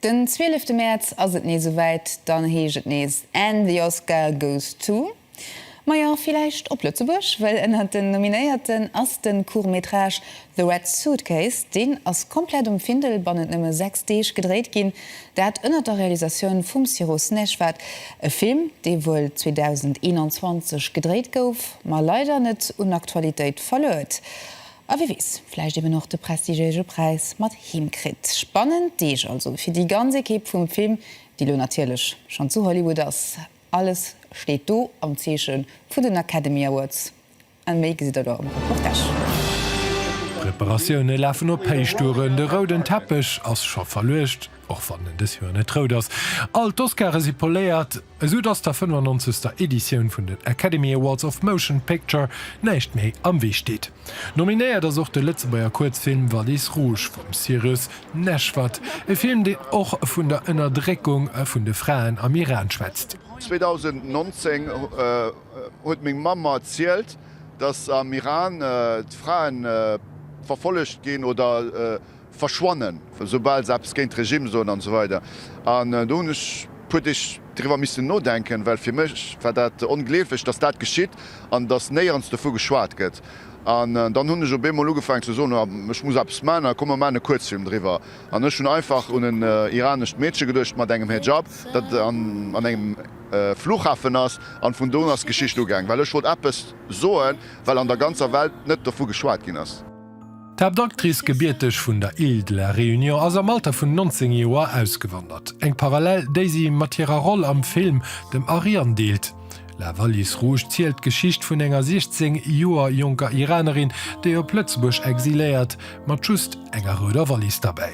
Den zwielefte Mäerz ass et nees souwäit, dann heescht et nees And the Oscar goes to. Majo, villäicht op Lëtzebuerg, well ënnert den Nominéierten ass de Court-métrage The Red Suitcase. Deen ass komplett um Findel bannent nëmme 6 Deeg gedréit ginn, dat ënnert der Realisatioun vum Siro Snejvad. E Film, dee wuel 2021 gedréit gouf, ma leider net un Aktualitéit verluer huet. A wie weess, vläicht eben och de prestigiége Präis mat heem kritt. Spannend Deeg also fir déi ganz Ekipp vum Film, déi elo natierlech schonn zu Hollywood ass. Alles steet do am Zeeche vun den Academy Awards a méi gesitt der do am Reportage. D'Preparatioune lafen op Héichtouren, de rouden Teppech ass scho verluecht, och wann en dës Joer net rout ass. All d'Oscare si poléiert, Esou dass der 95. Editioun vun den Academy Awards of Motion Picture näischt méi am Wee steet. Nominéiert ass och de Lëtzebuerger Kuerzfilm Valise Rouge vum Cyrus Neshvad, e Film deen och vun der Ënnerdréckung vun de Fraen am Iran schwätzt. 2019 huet meng Mamm mer erzielt, dass am Iran d'Frae verfollegt ginn oder. verschwannen, esoubal se eppes géint de Regime soen an esou weider. An do hunn ech e puer Deeg driwwer missen nodenken, well fir mech war dat ongleeflech, datt dat geschitt an datt néierens dovu geschwat gëtt. An dann hunn ech op eemol ugefaangen ze soen, ech muss eppes maachen a komm mer maachen e Kuerzfilm driwwer. An ech hunn einfach un en iranescht Meedche geduecht mat engem Hejab, dat an engem Fluchhafen ass. An vun do un ass d'Geschicht ugaang, well ech wollt eppes soen, well an der ganzer Welt net dovu geschwat ginn ass. D'Haaptactrice, gebierteg vun der Île de la Réunion, ass am Alter vun 19 Joer ausgewandert. Eng Parallel, déi si mat hirer Roll am Film Dem Aryan deelt. La valise rouge zielt d'Geschicht vun enger 16 Joer jonker Iranerin, déi op Lëtzebuerg exiléiert, mat just enger rouder Wallis derbäi.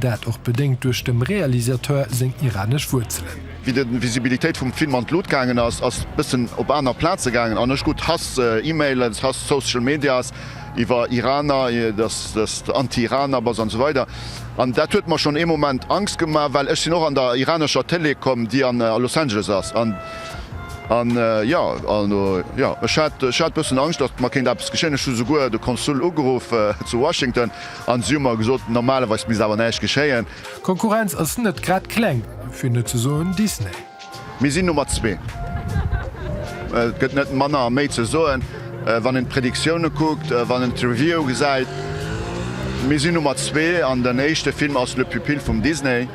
Dat och bedéngt duerch dem Realisateur seng iranesch Wuerzelen. Wéi de Visibilitéit vum Film an d'Lut gaangen ass, ass bëssen op aner Plaze gaangen an ech krut Hass, Emailen, Hass, Social Medias iwwer Iraner, dass de Anti-Iraner bass an esou weider. An dat huet mer schonn ee Moment Angst gemaach, well ech sinn och an der iranescher Télé komm, déi a Los Angeles ass. An jo, also jo, ech hat, ech hat bëssen Angscht, dass mer kéint eppes geschéien. Ech hu souguer de Konsul ugeruff zu Washington. An si hu mer gesot, normalerweis misst awer näischt geschéien. D'Konkurrenz ass net grad kleng, fir net ze soen Disney. Mir sinn Nummer zwee. Et gëtt net manner a méi ze soen, wann een d'Predictioune kuckt, wann een d'Reviewe gesäit. Mir sinn Nummer zwee an den éischte Film ass Le Pupille vum Disney.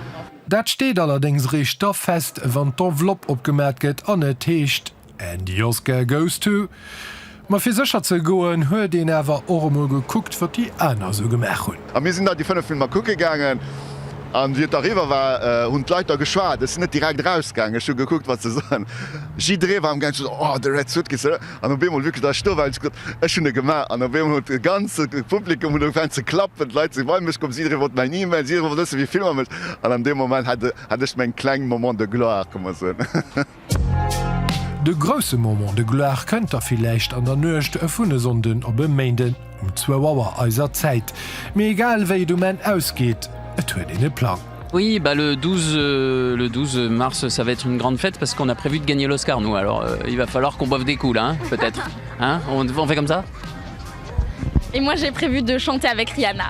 Dat steet allerdéngs eréischt da fest, wann d'Enveloppe opgemat gëtt an et heescht. And the Oscar goes to. Ma fir sécher ze goen, huet een awer och emol gekuckt, wat déi aner esou gemaach hunn. A mir sinn da déi fënnef Filmer kucke gaangen. A wéi et da eriwwer war, hunn d'Leit da geschwat. Ech sinn net direkt erausgaangen. Ech hu gekuckt, wat se soen. Jidderee war am gaangen ze soen, Oh, de Red Suitcase, oder? An op eemol wierklech, da ech sto war, hunn ech gesot, Ech hunn e gemaach. An op eemol huet de ganze Publikum huet ugefaangen ze klappen. D'Leit si bei mech komm. Jidderee wollt mäin Email. Jidderee wollt wëssen, wéi vill mam ech. An an deem Moment hat ech meng kleng Moment de gloire, ka mer soen. De grousse Moment de gloire kënnt da villäicht an der Nuecht vun e Sonnden op e Méinden um zwou Auer eiser Zäit. Mee egal wéi et um Enn ausgeet, et huet een e Plang. Oui bah le 12 le 12 mars ça va être une grande fête parce qu'on a prévu de gagner l'Oscar nous alors il va falloir qu'on boive des coups là hein peut être hein on on fait comme ça. Et moi j'ai prévu de chanter avec Rihanna.